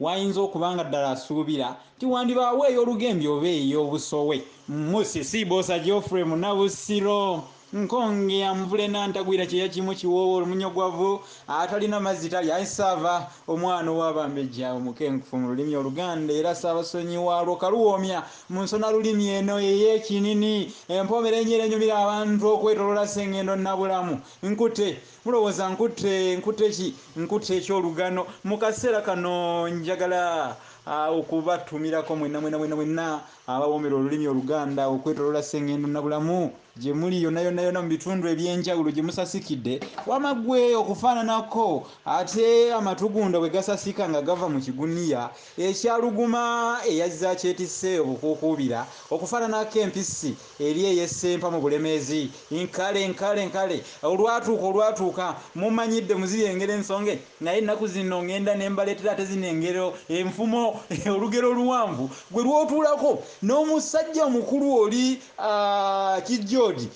Wayinza okuba nga ddala asuubira nti wandibaawo ey'olugembe oba ey'obusowe. Musisi Bbosa Geoffrey Munabusiro, Nkonge ya Mvule Nantagwira kyeya kimu kiwoowo olumunyogwavu atalina mazzi talya I Ssaava omwana ow'abambejja omukenkufu mu lulimi oluganda era Ssaabasonyi waalwo Kaluwoomya mu nsona lulimi eno ey'ekinini empomerenye era enyumira abantu okwetoloola Ssengendo Nabulamu Nkute Mulowooza nkutte, nkutte ki? Nkutte eky'olugano. Mu kaseera kano njagala okubattumirako mwenna, mwenna, mwenna, mwenna abawoomera olulimi Oluganda okwetoloola Ssengendo Nabulamu, gye muli yonna, yonna, yonna mu bitundu eby'enjawulo gye musasikidde. Wama ggwe okufaananako, ate amatugunda bwe gasasika nga gava mu kiguniya, Ekya Luguma eyazze akyetisse obukuukuubira okufaananako empisi eri ey'e Ssempa mu Bulemeezi, Nkale, nkale, nkale, olwatuuka, olwatuuka, mumanyidde mu ziri engero ensonge, naye ennaku zino ng'enda ne mbaleetera ate zino engero enfumo, olugero oluwanvu gwe lw'otuulako n'omusajja omukulu oli, aa, kijjoogi.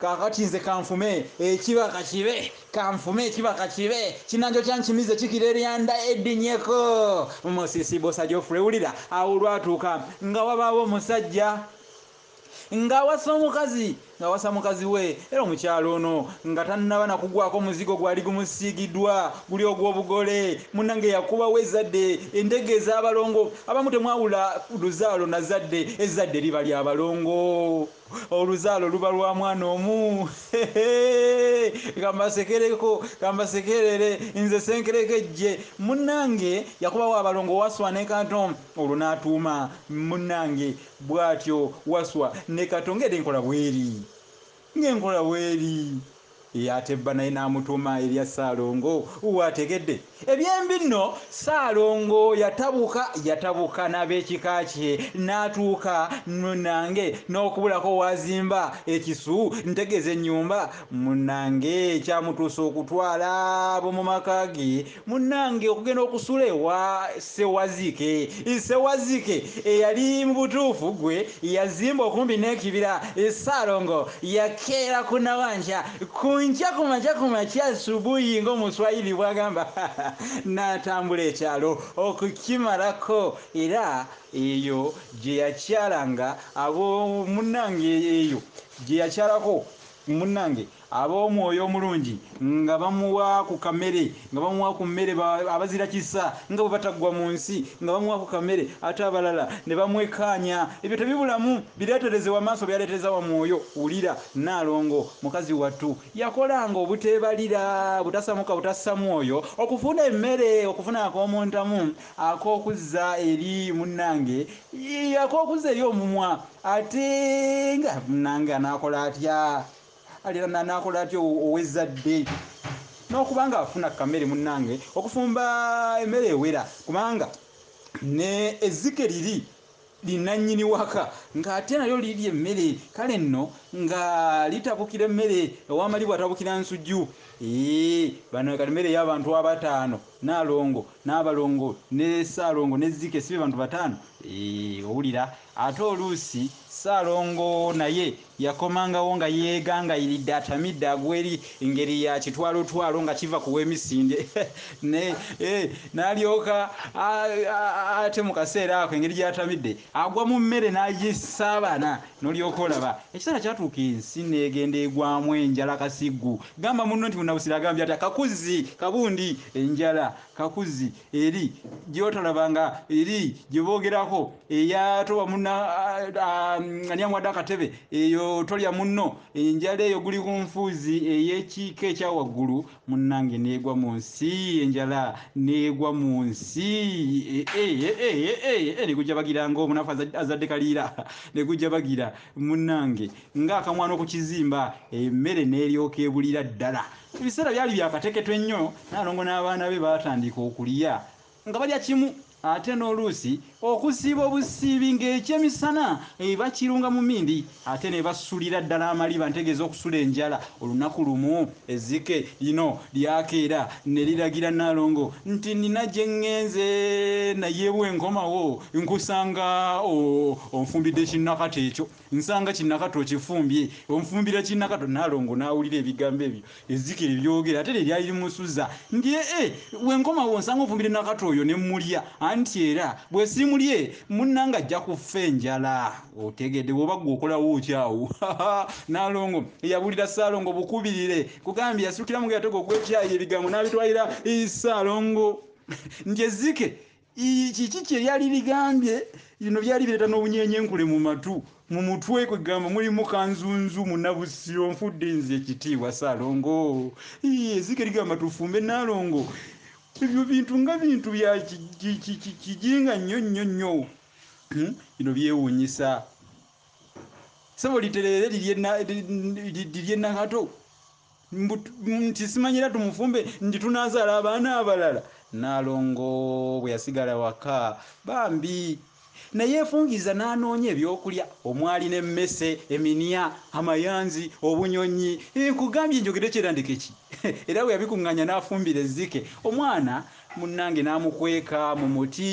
Kaakati nze kanfume ekiba ka kibe, kanfume ekiba ka kibe, kinanjo kya nkimize kikira eryanda eddinyeko mu musisi. Bbosa Geoffrey, wulira, awo olwatuuka nga wabaawo omusajja nga awasa omukazi, nga awasa mukazi we, era omukyala ono nga tannaba na kugwako muzigo gwali gumusiigidwa, guli ogw'obugole. Munnange yakubawo ezzadde, endege ez'abalongo. Abamu temwawula luzaalo na zzadde, ezzadde liba lya balongo. Oluzaalo luba lwa mwana omu hehee kambasekereko kambasekerere nze senkerekejje munange yakubawo abalongo waswa ne kato olwo natuuma munange bwatyo waswa ne kato ngede nkola bweri ngenkola bweri Ye ate bba naye n'amutuuma erya Ssaalongo. Waategedde? Ebyembi nno Ssaalongo yatabuka yatabuka n'ab'ekika kye n'atuuka munnange n'okubulako w'azimba ekisu ntegeeza ennyumba munnange ekyamutuusa okutwala ab'omu maka ge Munnange okugenda okusula ewa Ssewazike, Ssewazike eyali mu butuufu ggwe yazimba okumpi n'ekibira, Ssaalongo yakeera ku Nawankya ku nkya ku makya ku makya asubuhi ng'Omuswayiri bw'agamba n'atambula ekyalo okukimalako era eyo gye yakyalanga abo munnange eyo gye yakyalako. Munnange ab'omwoyo omulungi nga bamuwa ku kamere, nga bamuwa ku mmere, ba, abazira kisa nga bwe bataggwa mu nsi, nga bamuwa ku kamere, ate abalala ne bamwekkaanya. Ebyo tebibulamu. Bireetereze wa maaso, byaleetereza wa mwoyo. Wulira, Nnaalongo, mukazi wattu, yakolanga obuteebalira, butasamuka, butassa mwoyo, okufuna emmere, okufuna ak'omu ntamu, ak'okuzza eri, munnange, ak'okuzza eri omumwa. Ate nga munange anakola atya alina anakola atya owezadde nokuba nga afuna kamere munange okufumba emere ewera kubanga ne ezike liri linanyini waka nga ate nalyo lirya emmere kale nno nga litabukira emmere ewamali bwatabukira nsuju ee bano kati mere yabantu abataano nalongo nabalongo ne salongo ne zike sibe bantu bataano ee owulira Ate oluusi Ssaalongo naye yakomangawo nga yeegangayiridde atamidde agweri ngeri ya kitwalotwalo nga kiva ku w'emisinde ne eh, n'alyoka ate mu kaseera ako engeri gye yatamidde agwa mu mmere n'agisaabana n'olyoka olaba. Ekiseera kyatuuka ensi n'egenda egwamu enjala kasiggu. Gamba munno nti Munnabusiro agambye ati, Akakuzzi kabundi enjala kakuzzi. eri gyotolaba nga eri gyebogerako eyatowa muna ani amuwadde akatebe eyo tolya munno enjala eyo guli ku nfuuzi eyekiika ekya waggulu munnange neegwa mu nsi enjala neegwa mu nsi negujjabagira nga omunafu azadde kaliira negujjabagira munnange ng'akamwana okukizimba emmere neeryoka ebulira ddala Ebiseera byali bya kateketo ennyo, Nnaalongo n'abaana be baatandiika okulya nga balya kimu ate n'oluusi okusiiba obusiibi ng'ekyemisana bakirunga mu mmindi ate ne basulira ddala amaliba ntegeeza okusula enjala. Olunaku lumu ezzike lino lyakeera ne liragira Nnaalongo nti, Nnina gye ŋŋenze naye bwe nkomawo nkusanga onfumbidde kinnakata ekyo. Nsanga kinakato okifumbye onfumbira kinakato nalongo nawulira ebigambo ebyo ezzike lyebyogera ate lye lyali limusuza nti ee wenkomawo nsanga onfumbidde nakato oyo ne mulya anti era bwesimulye munange ajja kuffa enjala otegede woba gwe okolawo ki awo nalongo yabulira salongo bukubirire kugambye yasukira mu yatego ogwekyayi ebigambo nabitwalira salongo nti ezzike Ii, Kiki kye lyali ligambye? Lino byali bireeta n'obunyeenyenkule mu matu. Mu mutwe kwe gamba mulimu Kanzunzu, Munabusiro, Nfudde nze, Ekitiibwa, Ssaalongo. Ii, Ezike ligamba tufumbe Nnaalongo. Ebyo bintu nga bintu bya kijinga nnyo nnyo nnyo. Hmm, bino byewuunyisa. Ssebo litereere lirye Nakato. nti simanyi era tumufumbe nti tunazaala abaana abalala naalongo bwe yasigala waka bambi naye efungiza n'anoonya ebyokulya omwali n'emmese eminia amayanzi obunyonyi nkugambye njogede kyerandeke ki era bwe yabikuŋŋanya n'afumbira ezzike omwana munnange n'amukweka mu muti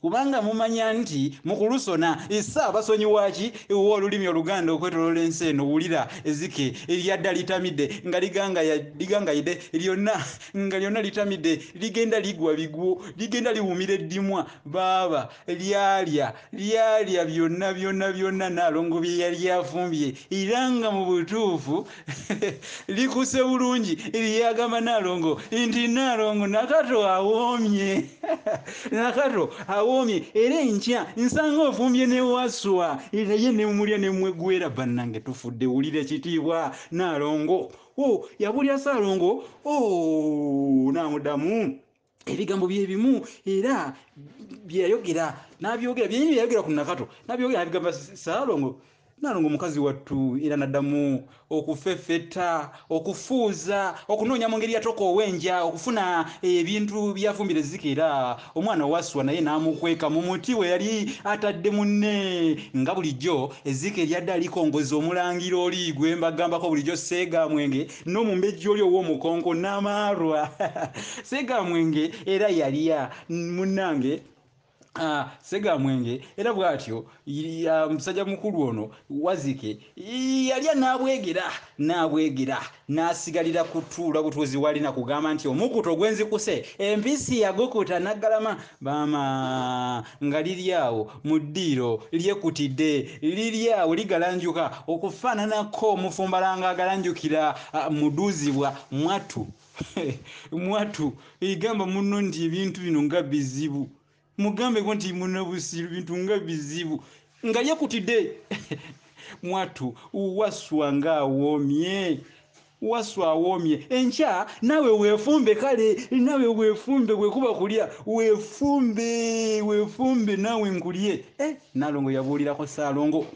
Kubanga mumanya nti mu kulusona, Issa abasonyiwa ki wa olulimi oluganda okwetolola ensi eno, wulira ezike eryadda litamide nga ligangaya, ligangayide lyonna nga lyonna litamide ligenda ligwa bigwo, ligenda liwumira eddimwa, baaba lyalya, lyalya byonna byonna byonna Nnaalongo bye yali afumbye era nga mu butuufu, likuse bulungi lyagamba nalongo nti nalongo nakato awoomye nakato awoomye era enkya nsanga ofumbye ne waswa naye nemulya nemwegwera bannange tufudde wulira ekitiibwa nalongo o oh, yabulya saalongo o oh, namudamu ebigambo bye bimu era bye yayogera n'abyogera byenyi bye yayogera ku nakato n'abyogera n'abigamba saalongo nalongo mukazi wattu era naddamu okufeffetta okufuuza okunoonya mu ngeri yatoka ow'enja okufuna ebintu byafumbira ezzike era omwana waswa naye n'amukweka mu muti we yali atadde munne nga bulijjo ezzike eryadde alikongoza omulangira oli gwe mbagambako bulijjo seega mwenge n'omumbejja oli ow'omukonko namaarwa segamwenge era yalya munnange Ah, segamwenge era bw'atyo musajja mukulu ono wazike yalya n'abwegera n'abwegera n'asigalira kutuula butuuzi walina kugamba nti omukuto gwenzikuse empisi yagukuta naggalama Maama nga liri awo mu ddiiro lyekutidde, liri awo ligalanjuka okufaananako omufumbalanga agalanjukira muduuzibwa mwattu. Mwattu gamba munno nti ebintu bino nga bizibu, mugambeko nti munnabusiru bintu nga bizibu. Nga yekutide mwattu waswa nga awomye waswa awomye enkya nawe wefumbe kale nawe wefumbe bwekuba kulya wefumbe wefumbe nawe nkulye eh, nalongo yabuulirako saalongo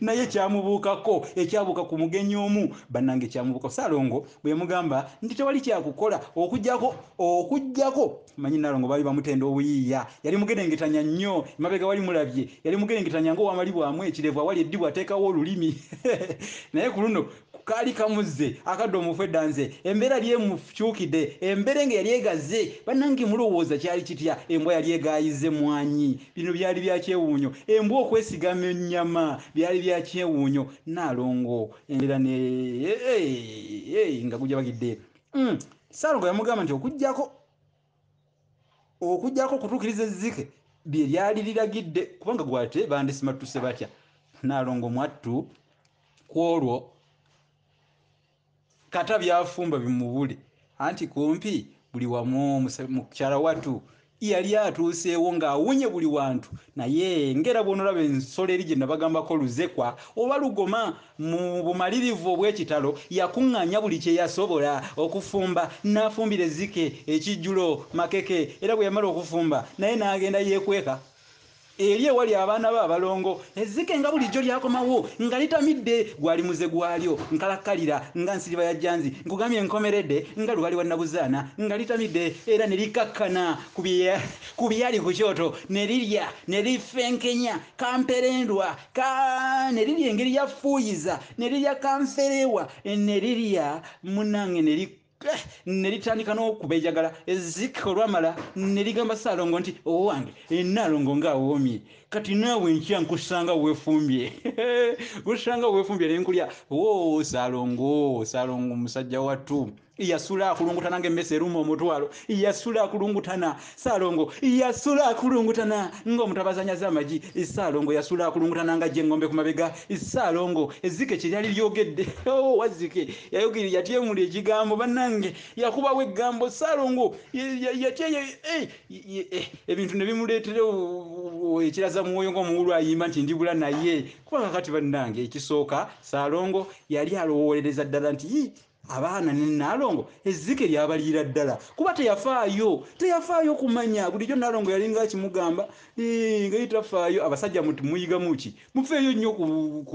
naye kyamubuukako ekyabuuka ku mugenyi omu banange kyamubuukako saalongo bweyamugamba nti tewali kyakukola okujjako okujjako Manyi Nalongo baali bamutenda obuyiiya. Yali mugerengetanya nnyo. Emabega wali mulabye. Yali mugerengetanya ng'owamalibwamu ekirevu awali eddibu ateekawo olulimi. Naye ku luno kaali kamuzze. Akadde omufu edda nze. Embeera yali emukyukide. Emberenge yali egaze. Banange mulowooza kyali kitya? Embwa yali egaayizza emmwanyi. Bino byali bya kyewuunyo. Embwa okwesigama ennyama. Byali bya kyewuunyo. Nalongo embeera ne. Eeh! Eeh! Nga gujabagidde. Umm! Ssaalongo yamugamba nti okuggyako okuggyako okutuukiriza ezzike bye lyali liragidde kubanga gwate bandisimattuse batya naalongo mwattu ku olwo kata byafumba bimubuli anti kumpi buli wamu mukyala watu yali atuuseewo ng'awunye buli wantu naye ng'era bw'onolaba ensolo eri gye nabagambako Luzekwa oba Lugoma mu bumalirivu obw'ekitalo yakuŋŋaanya buli kye yasobola okufumba n'afumbira ezzike ekijjulo, makeke, era bwe yamala okufumba naye n'agenda yeekweka. Eri ewali abaana be abalongo, ezzike nga bulijjo lyakomawo nga litamidde, gwali muze gwalyo, nkalakkalira nga nsiriba ya jjanzi, nkugambye nkomerede nga lubaale wa nabuzaana, nga litamidde era ne likakkana ku byali ku kyoto ne lirya, ne lifenkenya kamperendwa ka, ne lirya engeri ya fuuyiza, ne lirya kanferewa, ne lirya munange ne li. Eh, ne litandika n'okubejagala ezzike olwamala ne ligamba ssaalongo nti owange enaalongo ng'awoomye kati naawe nkya nkusanga weefumbye kusanga weefumbye ne nkulya o ssaalongo ssaalongo musajja wattu yasula akulungutana ng'emmese eruma omutwalo yasula akulungutana Ssaalongo yasula akulungutana ng'omutabaazi anyaze amagi. Ssaalongo yasula akulungutana ng'aggye engombe ku mabega. Ssaalongo ezzike kye lyali lyogedde. Oh, Wazzike yayogera, yatyemula ekigambo, bannange! Yakubawo ekgambo. Ssaalongo yatya, eh, ebintu ne bimuleetera ekiraza mwoyo ng'omuwuulu ayimba nti ndibula naye. Kuba kakati bannange, ekisooka Ssaalongo yali alowoolereza ddala nti, Yii, abaana ne Nnaalongo ezzike lyabaliira ddala kuba teyafaayo teyafaayo kumanya bulijjo Nnaalongo yalinga akimugamba nga ye tafaayo abasajja muyigamu ki mufeeyo nnyo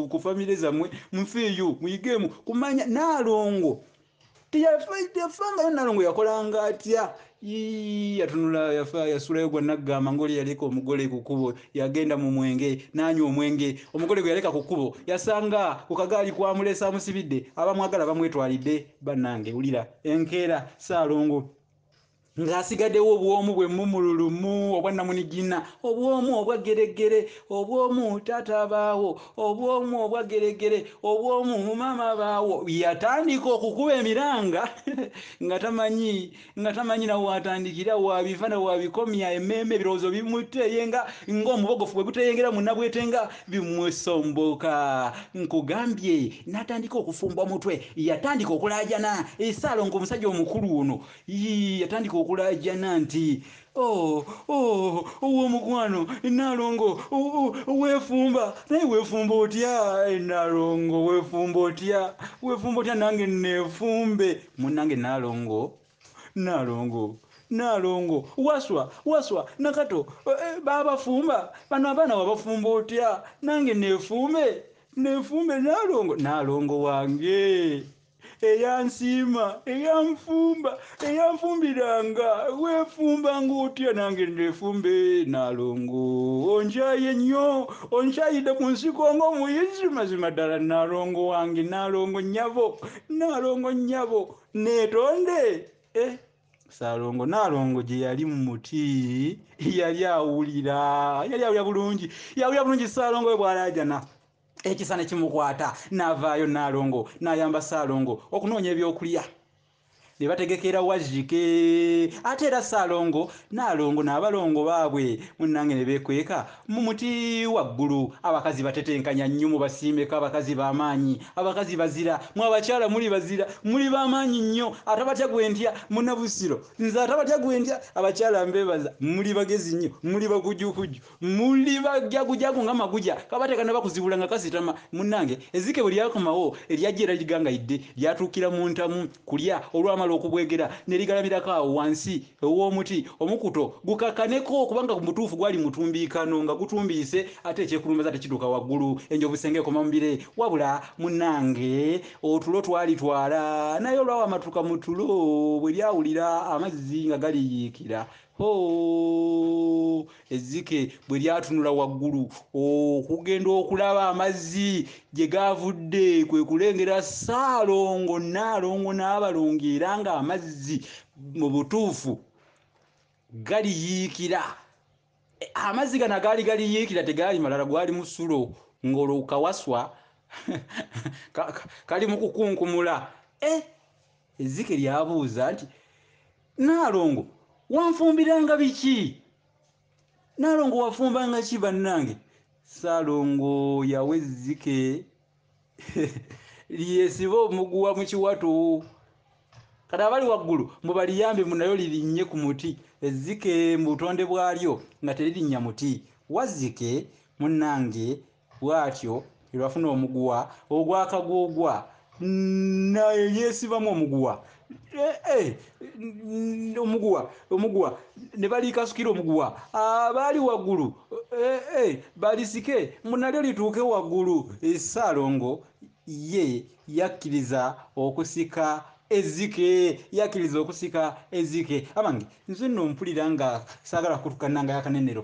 ku famire zammwe mufeeyo muyigeemu kumanya Nnaalongo teyafangayo Nnaalongo yakolanga atya Yii yatunula yafa yasulayo gwa naggamba ngoli yaleka omugole ku kkubo yagenda mu mwenge n'anywa omwenge omugole gwe yaleka ku kkubo yasanga ku kagaali kwamulese amusibidde abamwagala bamwetwalidde bannange wulira enkeera ssaalongo ng'asigaddewo obwomu bwe mumululumu obwannamunigina obwomu obwa geregere obwomu taata abaawo obwomu obwa geregere obwomu maama abaawo yatandika okukuba emiranga nga tamanyi nga tamanyi na waatandikira waabiva na waabikomya emmeeme ebirowoozo bimutte ye nga ng'omubogofu bwe guteyengera munnabwete nga bimusomboka nkugambye n'atandika okufumba omutwe yatandika okulaajana esaalongo omusajja omukulu ono yatandika okulaajana nti Oh, oh, owomukwano Nalongo wefumba naye wefumba otya eh, Nalongo wefumba otya wefumba otya nange nefumbe munange Nalongo Nalongo Nalongo waswa waswa nakato eh, eh, babafumba bano abaana wabafumba otya nange nefumbe nefumbe Nalongo Nalongo wange eyansiima eyanfumba eyanfumbiranga weefumbanga otya nange ndeefumbe naalongo onkyaye nnyo onkyayidde ku nsiko ng'omuyizi mazima ddala naalongo wange naalongo nnyabo naalongo nnyabo neetonde eh, saalongo naalongo gye yali mu muti yali awulira yali awulira bulungi yawulira bulungi saalongo we bwalaajana ekisa ne kimukwata n'avaayo Nnaalongo n'ayamba Ssaalongo okunoonya ebyokulya ne bategekera Wajjike ate era Ssaalongo Nnaalongo n'abalongo baabwe munnange ne beekweka mu muti waggulu. Abakazi batetenkanya nnyo mubasiimeko abakazi ba maanyi, abakazi bazira, mwe abakyala muli bazira, muli ba maanyi nnyo atabatya gwe ntya munna Busiro nze atabatya gwe ntya abakyala mbeebaza muli bagezi nnyo muli bakujjukujju. muli bajagujagu nga maguja kaba tekanaba kuzibula nga kasitama munange ezike bwe lyakomawo eryajja era ligangayidde lyatuukira mu ntamu kulya olwamala okubwegera ne ligalamirako awo wansi ew'omuti omukuto gukakkaneko kubanga ku mutuufu gwali mutumbiikano nga gutumbiise ate ekyekulumbaza ate kidduka waggulu enjovu senga ekoma mu bire wabula munange otulo twalitwala naye olwawamatuka mu tulo bwe lyawulira amazzi nga galiyiikira Hoo! Ezzike bwe lyatunula waggulu okugenda okulaba amazzi gye gaavudde kwe kulengera Ssaalongo Nnaalongo n'abalongo era ng'amazzi mu butuufu galiyiikira. Amazzi gano agaali galiyiikira tegaali malala, gwali musulo ng'olwo kawaswa kali mu kukunkumula. Eh! Ezzike lyabuuza nti Naalongo wanfumbiranga biki? Naalongo wafumbanga ki bannange? Ssaalongo yawa ezzike lyesiba omuguwa mu kiwato. Kati abali waggulu mubaliyambe mu nayo lirinnye ku muti. Ezzike mu butonde bwalyo nga teririnnya muti. Wazzike munnange Bw'atyo Irafuna omuguwa ogwa kaguugwa naye yeesibamu omuguwa eh, eh, omuguwa omuguwa ne baliikasukira omuguwa abaali ah, waggulu eh, balisike mbu nalyo lituuke waggulu ssaalongo ye yakkiriza okusika ezike yakkiriza okusika ezike abange nze nno mpulira nga saagala kukutukana nga yakanenero